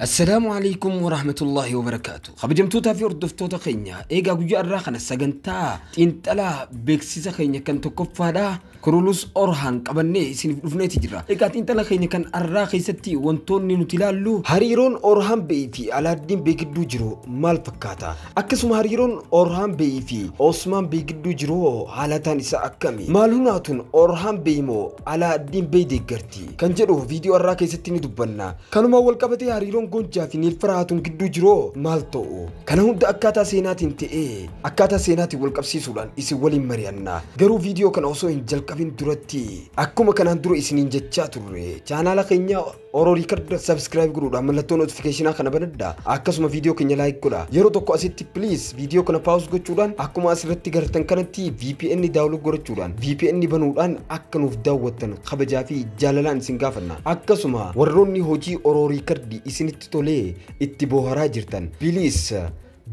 Assalaamu Aleykum Warahmatullaahi Wabarakaatu. Kabajamtootaa fi hordoftoota keenya eegaa guyyaa irraa kana sagantaa xiinxalaa beeksisa keenya kan tokkoffaadha. Kurulus Orhaan qabannee isiniif dhufneeti jira. Egaa xiinxala keenya kan arraa keessatti wantoonni nuti ilaallu hariiroon Orhaan Be'ii fi Alaaddiin Bee gidduu jiru maal fakkaata? Akkasuma hariiroon Orhaan Be'ii fi Osmaan Bee gidduu jiru hoo haalataan isaa akkami? Maal hunaatuun Orhaan Be'ii moo Alaaddiin Bee deeggarti? ti kan jedhu viidiyoo har'aa keessatti ni dubbanna. Kanumaan walqabatee hariiroon Goonjaa fi Niil Farahaatuun gidduu jiroo maal ta'u? Kana hunda akkaataa seenaatiin ta'ee akkaataa seenaatiin walqabsiisuudhaan isin waliin mari'anna. Garuu viidiyoo kana osoo hin jalqabin duratti akkuma kanaan dura isiniin jechaa turre chaanaala keenya Oro Record subscribe godhuudhaan mallattoo notification kana banadhaa akkasuma viidiyoo keenya like godhaa. Yeroo tokko asitti please viidiyoo kana pause gochuudhaan akkuma asirratti gartan kanatti VPN download godhachuudhaan VPN banuudhaan akka nuuf daawwattan kabajaa fi jaalalaan isin gaafanna. Akkasuma warroonni hojii Oro Riikardii isinitti tolee itti booharaa jirtan biliis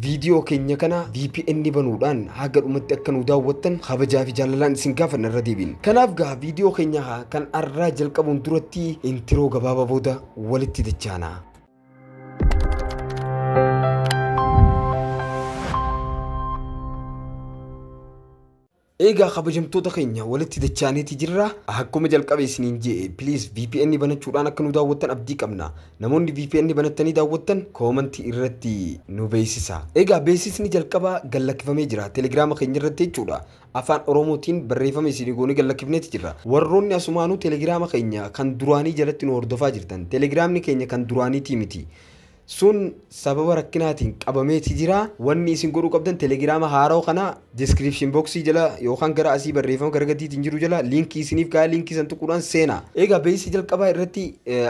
viidiyoo keenya kana VPN banuudhaan haga dhumatti akka nu daawwattan kabajaa fi jaalalaan isin gaafanna irra deebiin. Kanaaf gaa viidiyoo keenya kan arraa jalqabuun duratti intiroo gabaabaa booda walitti dachaana. Eegaa kabajamtoota keenya walitti dachaaneeti jirra. Akkuma jalqabe isiniin je'e please vpn banachuudhaan akka nu daawwattan abdii qabna. Namoonni vpn banattanii daawwattan comment irratti nu beeksisa. Eegaa beeksisni jalqabaa gad lakkifamee jira telegrama keenya irratti jechuudha. Afaan Oromootiin barreeffama isinii goonee gad lakkifneeti jirra. Warroonni asumaanuu telegrama keenya kan duraanii jalatti nu hordofaa jirtan telegramni keenya kan duraaniitii miti. Sun sababa rakkinaatiin qabamee ti jira. Wanni isin godhuu qabdan telegiraama haarawa kana description box jala yookaan gara asii barreeffama gara gadiitiin jiru jala linkii isiniif kaaya linkii san tuquudhaan seena. Eegaa beeysa jalqabaa irratti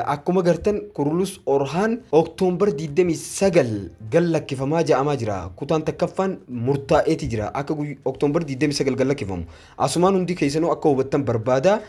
akkuma gartan Kurulus Orhaan October 29 gad lakkifamaa ja'amaa jira. Kutaan takkaffaan murtaa'ee ti jira akka October 29 gad lakkifamu. Asumaan hundii keessanuu akka hubattan barbaada.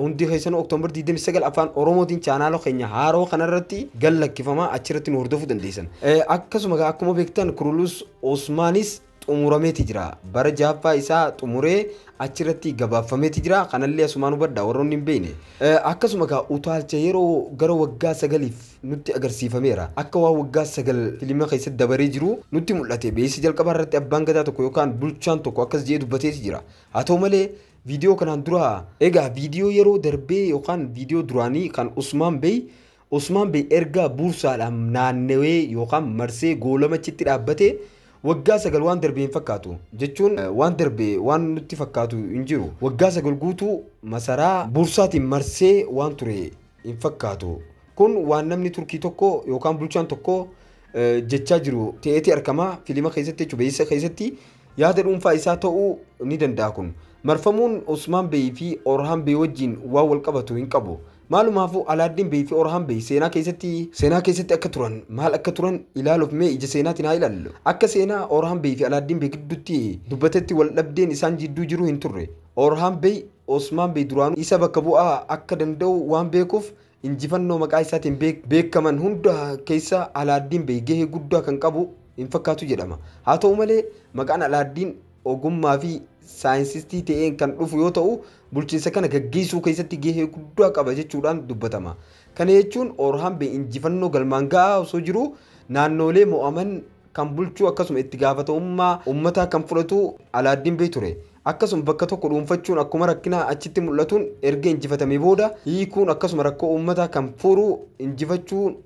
Hundii keessanuu October 29 afaan Oromootiin chaanaala keenya haaroo kanarratti gad lakkifama achirratti nu hordofuu dandeessan. Akkasuma egaa akkuma beektan Kurulus Osmaanis xumurameeti jira. Bara jahaffaa isaa xumuree achirratti gabaabfameeti jira. Kanallee asumaan hubadha warroonni hin beekne. Akkasuma egaa utaalcha yeroo gara waggaa sagaliif nutti agarsiifameera. Akka waan waggaa sagal filima keessatti dabaree jiruu nutti mul'ate. Beeksisa jalqabaa irratti abbaan gadaa tokko yookaan bulchaan tokko akkas jedhee dubbateeti jira. Haa ta'u malee viidiyoo kanaan duraa. Egaa viidiyoo yeroo darbee yookaan viidiyoo duraanii kan Usmaan Bey Usmaan Bey erga Buursaadhaan naannawee yookaan marsee goolama achitti dhaabbatee waggaa sagal waan darbe hin fakkaatu. Jechuun waan darbe waan nutti fakkaatu hin jiru. Waggaa sagal guutuu masaraa Buursaatiin marsee waan ture hin fakkaatu. Kun waan namni Turkii tokko yookaan bulchaan tokko jechaa jiru ta'eeti argama. Filima keessatti jechuun beeksisa keessatti yaada dhuunfaa isaa ta'uu ni danda'a kun. Marfamuun Usmaan Bey fi Orhaan Bey wajjin waan wal qabatu hin qabu. Maalumaafuu Alaaddiin Bey fi Orhaan Bey seenaa keessatti seenaa keessatti akka turan maal akka turan ilaaluuf mee ija seenaatiin haa ilaallu. Akka seenaa Orhaan Bey fi Alaaddiin Bey gidduutti dubbatetti wal dhabdeen isaan jidduu jiru hin turre. Orhaan Bey Osmaan Bey duraanuu isa bakka bu'aa akka danda'u waan beekuuf injifannoo maqaa isaatiin beekaman hunda keessa Alaaddiin Bey gahee guddaa kan qabu hin fakkaatu jedhama. Haa ta'u malee maqaan Alaaddiin ogummaa fi saayinsistii ta'een kan dhufu yoo ta'u bulchiinsa kana gaggeessuu keessatti gahee guddaa qaba jechuudhaan dubbatama. Kana jechuun Orhambe injifannoo galmaan ga'aa osoo jiruu naannoolee mo'aman kan bulchuu akkasuma itti gaafatamummaa ummataa kan fudhatu Alaaddin Bey ture. Akkasuma bakka tokko dhuunfachuun akkuma rakkinaa achitti mul'atuun erga injifatamee booda hiikuun akkasuma rakkoo ummataa kan furu injifachuun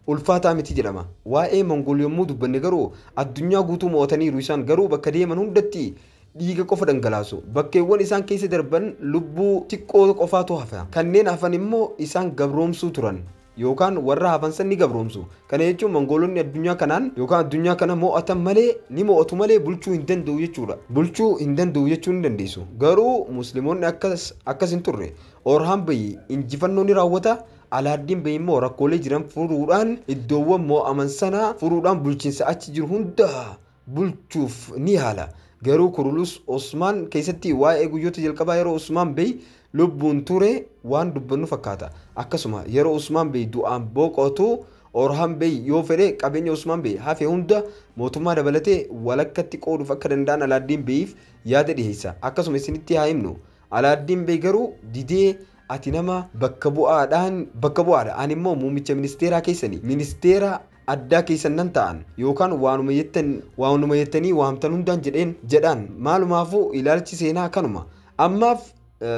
Ulfaataa miti jedhama. Waa'ee Mongol yommuu dubbanne garuu addunyaa guutuu mo'ataniiru isaan garuu bakka deeman hundatti dhiiga qofa dhangalaasu. Bakkeewwan isaan keessa darban lubbuu xiqqoo qofaatu hafa. Kanneen hafan immoo isaan gabroomsuu turan yookaan warra hafan san ni gabroomsu. Kana jechuun Mongoolonni addunyaa kanaan yookaan addunyaa kana mo'atan malee ni mo'atu malee bulchuu hin danda'u jechuudha. Bulchuu hin danda'u jechuu ni dandeessu. Garuu Muslimoonni akkas akkas hin turre. Orhan Bey injifannoo ni raawwata, Alaaddin Bey immoo rakkoolee jiran furuudhaan iddoowwan moo'aman sana furuudhaan bulchiinsa achi jiru hunda bulchuuf ni yaala. Garuu Kurulus Osmaan keessatti waa'ee guyyoota jalqabaa yeroo Usmaan Bey lubbuun ture waan dubbannu fakkaata. Akkasuma yeroo Usmaan Bey du'aan boqotu Orhan Bey yoo fedhe qabeenya Usmaan Bey hafe hunda mootummaa dabalatee walakkatti qooduuf akka danda'an Alaaddin Beyiif yaada dhiheessa. Akkasuma isinitti haa himnu. Alaaddin Bey garuu didee Ati nama bakka bu'aadhaan bakka bu'aadha, ani immoo muummicha ministeeraa keessani. Ministeera addaa keessan nan ta'an, yookaan waanuma jettan, waanuma jettanii waamtan hundaan jedheen, jedhaan. Maalumaafuu ilaalchi seenaa kanuma. Ammaaf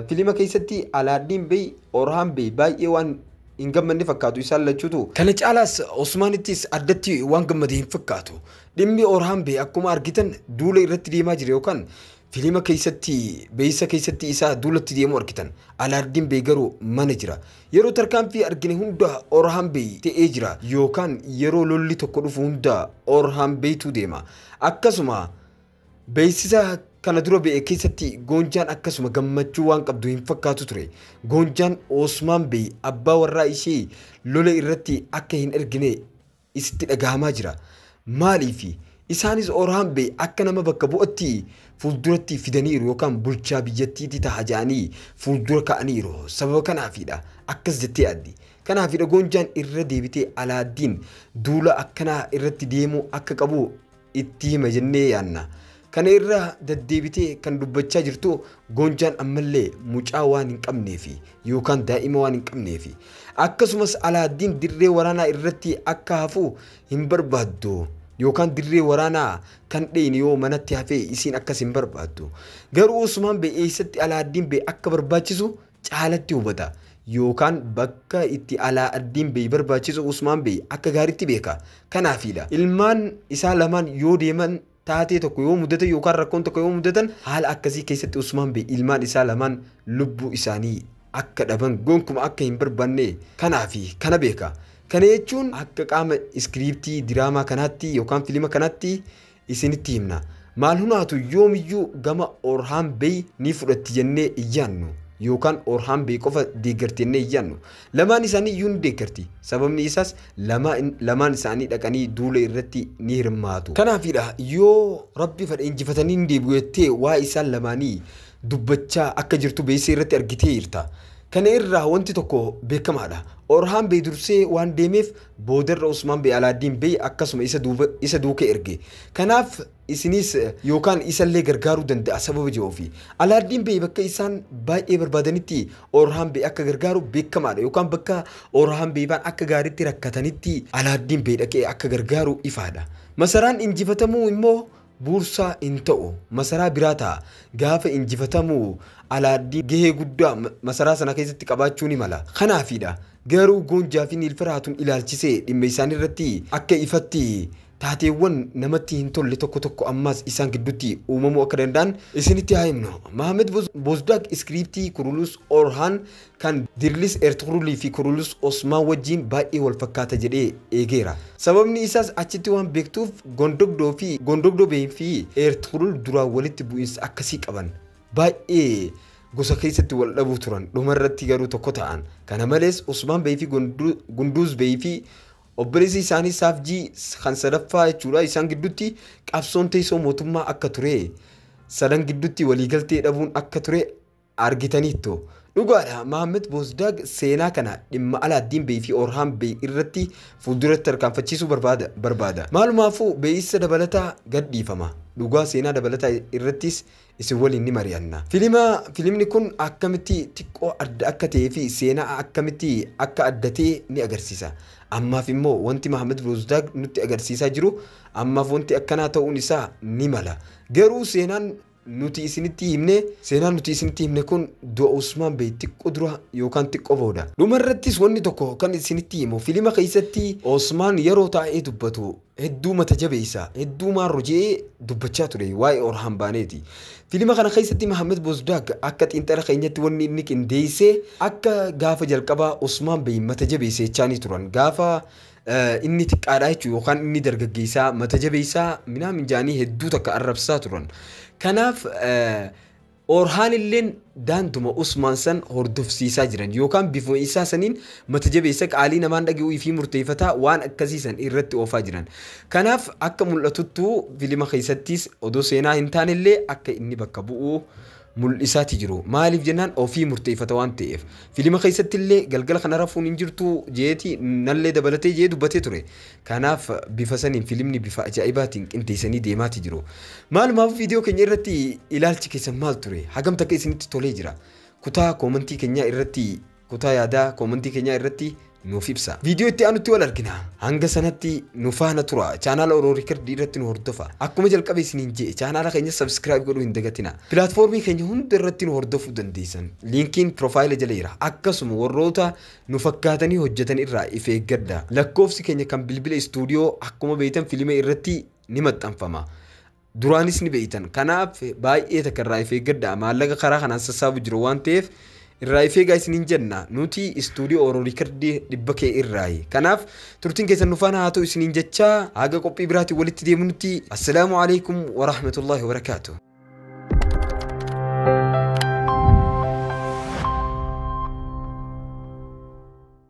filima keessatti Alaaddiin Bey, Orhaan Bey baay'ee waan hin gammanne fakkaatu isaan lachuutu. Kana caalaas Osmaanittis addatti waan gammade hin fakkaatu. Dhimmi Orhaan Bey akkuma argitan duula irratti deemaa jira yookaan Filima keessatti beeysa keessatti isaa duulatti deemu argitan. Alaardiin beey garuu mana jira. Yeroo tarkaanfii argine hunda Orhaan beey ta'ee jira yookaan yeroo lolli tokko dhufu hunda Orhaan beeytuu deema. Akkasuma beeysisa kana dura be'e keessatti Goonjaan akkasuma gammachuu waan qabdu hin fakkaatu ture. Goonjaan Oosmaan beey abbaa warraa ishee lola irratti akka hin ergine isitti dhaga'amaa jira. Maaliif? Isaanis Orhaambee akka nama bakka bu'atti fuulduratti fidaniiru yookaan bulchaa biyyattiiti ta'a jedhanii fuuldura ka'aniiru. Sababa kanaafiidha. Akkas jettee yaaddi. Kanaafidha Goonjaan irra deebitee Alaaddiin duula akkanaa irratti deemuu akka qabu itti hima jennee yaanna. Kana irra daddeebitee kan dubbachaa jirtu Goonjaan ammallee mucaa waan hin qabneefi yookaan daa'ima waan hin qabneefi akkasumas Alaaddiin dirree waraanaa irratti akka hafu hin barbaaddu yookaan dirree waraanaa kan dheeyne yoo manatti hafee isiin akkas hin barbaaddu. Garuu Usmaan bee eessatti Alaaddiin bee akka barbaachisu caalatti hubata yookaan bakka itti alaa addiin beey barbaachisu Usmaan beey akka gaaritti beeka. Kanaafiidha. Ilmaan isaa lamaan yoo deeman taatee tokko yoo mudate yookaan rakkoon tokko yoo mudatan haala akkasii keessatti Usmaan beey ilmaan isaa lamaan lubbuu isaanii akka dhaban gonkuma akka hin barbaanne kanaafi kana beeka. Kana jechuun akka qaama iskiriiptii diraamaa kanaatti yookaan filima kanaatti isinitti himna. Maal hunaatu yoomiyyuu gama Orhaan Bey ni fudhatti jennee hin yaannu. Yookaan Orhaan Bey qofa deeggarti jennee hin yaannu. Lamaan isaanii iyyuu ni deeggarti. Sababni isaas lama, lamaan isaanii dhaqanii duula irratti ni hirmaatu. Kanaafiidha yoo Rabbi fadhe injifatanii ni deebi'u jettee waa'ee isaan lamaanii dubbachaa akka jirtu beeksisa irratti argiteerta. Kana irraa wanti tokko beekamaadha. Orhaan Bey dursee waan deemeef Boodarra Usmaan Bey Alaaddiin Bey akkasuma isa duuba, isa duuka erge. Kanaaf isiniis yookaan isallee gargaaruu danda'a sababa jedhuufi. Alaaddiin Bey bakka isaan baay'ee barbaadanitti Orhaan Bey akka gargaaru beekamaadha yookaan bakka Orhaan Bey faan akka gaariitti rakkatanitti Alaaddiin Bey dhaqee akka gargaaru ifaadha. Masaraan injifatamuu immoo buursaa in ta'u, masaraa biraa ta'a. Gaafa injifatamu Alaaddiin gahee guddaa masaraa sana keessatti qabaachuu ni mala. Kanaafiidha. Garuu Goonjaa fi Niilfar Haatun ilaalchisee dhimma isaanii irratti akka ifatti taateewwan namatti hin tolle tokko tokko ammaas isaan gidduutti uumamuu akka danda'an isinitti haa himnu. Mahamed Bozdaak iskiriiptii Kurulus Orhaan kan Dirlis Ertugrul fi Kurulus Osmaan wajjiin baay'ee wal fakkaata jedhee eegeera. Sababni isaas achitti waan beektuuf Gondogdoo fi Gondogdoo Bey fi Ertugrul duraan walitti bu'insa akkasii qaban. Baay'ee gosa keessatti wal dhabuu turan. Dhuma irratti garuu tokko ta'an. Kana malees Osmaan Bey fi Gunduuz Bey fi obboleessi isaanii Saafjii kan sadaffaa jechuudha isaan gidduutti qabsoon teessoo mootummaa akka ture sadan gidduutti waliigaltee dhabuun akka ture argitaniittu. Dhugaadha, Mahammet Bozdag seenaa kana dhimma Alaaddin Bey fi Orhan Bey irratti fuulduratti tarkaanfachiisuu barbaada, barbaada. Maalumaafuu beeissa dabalataa gad dhiifama. Dhugaa seenaa dabalataa irrattis isin waliin ni mari'anna. Filima, filimni kun akkamitti xiqqoo adda akka ta'ee fi seena'a akkamitti akka adda ta'e ni agarsiisa. Ammaaf immoo wanti Mahammet Bozdag nutti agarsiisaa jiru, ammaaf wanti akkanaa ta'uun isaa ni mala. Garuu seenaan nuti isinitti himne, seenaan nuti isinitti himne kun du'a Usmaan Bey xiqqo dura yookaan xiqqo booda. Dhuma irrattis wanni tokko kan isinitti himu filima keessatti Osmaan yeroo taa'ee dubbatu hedduu mata jabeessa, hedduu maarro je'ee dubbachaa ture waa'ee Orhaan Baaneeti. Filima kana keessatti Mahamed Bozdag akka xiinxala keenyatti wanni inni qindeesse akka gaafa jalqabaa Osmaan Bey mata jabeessa jechaanii turan. Gaafa Inni xiqqaadha jechuun yookaan inni dargaggeessaa mata jabeessaa minaamin jaanii hedduu takka arrabsaa turan. Kanaaf Orhaan illeen daanduma Usmaan san hordofsiisaa jiran yookaan bifuma isaa saniin mata jabeessa qaalii namaan dhage'uu fi murteeffataa waan akkasii san irratti oofaa jiran. Kanaaf akka mul'atuttu filima keessattis odoo seenaa hin taanellee akka inni bakka bu'u mul'isaati jiru. Maaliif jennaan ofii murteeffata waan ta'eef. Filima keessatti illee galgala kana rafuun hin jirtu jeeti nallee dabalatee jee dubbatee ture. Kanaaf bifa saniin filimni bifa ajaa'ibaatiin qindeessanii deemaati jiru. Maalumaaf viidiyoo keenya irratti ilaalchi keessan maal ture? Hagam takka isinitti tolee jira? Kutaa koomantii keenyaa irratti Kutaa yaadaa koomantii keenyaa irratti nuuf ibsa. Viidiyoo itti aanutti wal argina. Hanga sanatti nu faana tura. Chaanaala Oro Riikardii irratti nu hordofa. Akkuma jalqabe isiniin je'e chaanaala keenya sabskiraayib godhuu hin dagatina. Pilaatfoormii keenya hunda irratti nu hordofuu dandeessan. Liinkiin piroofaayila jala jira. Akkasuma warroota nu fakkaatanii hojjetan irraa if eeggadha. Lakkoofsi keenya kan bilbila istuudiyoo akkuma beektan filima irratti ni maxxanfama. Duraanis ni beektan. Kanaaf baay'ee takka irraa if eeggadhaa. Maallaqa karaa kanaan sassaabu jiru waan ta'eef irraa if eegaa isiniin jenna. Nuti istuudiyoo Oro Riikardii dhibba kee irraayi. Kanaaf turtiin keessan nu faana haa ta'u isiniin jechaa haga qophii biraatiin walitti deemunutti assalaamu alaikum wa rahmatullahi wa barakaatu.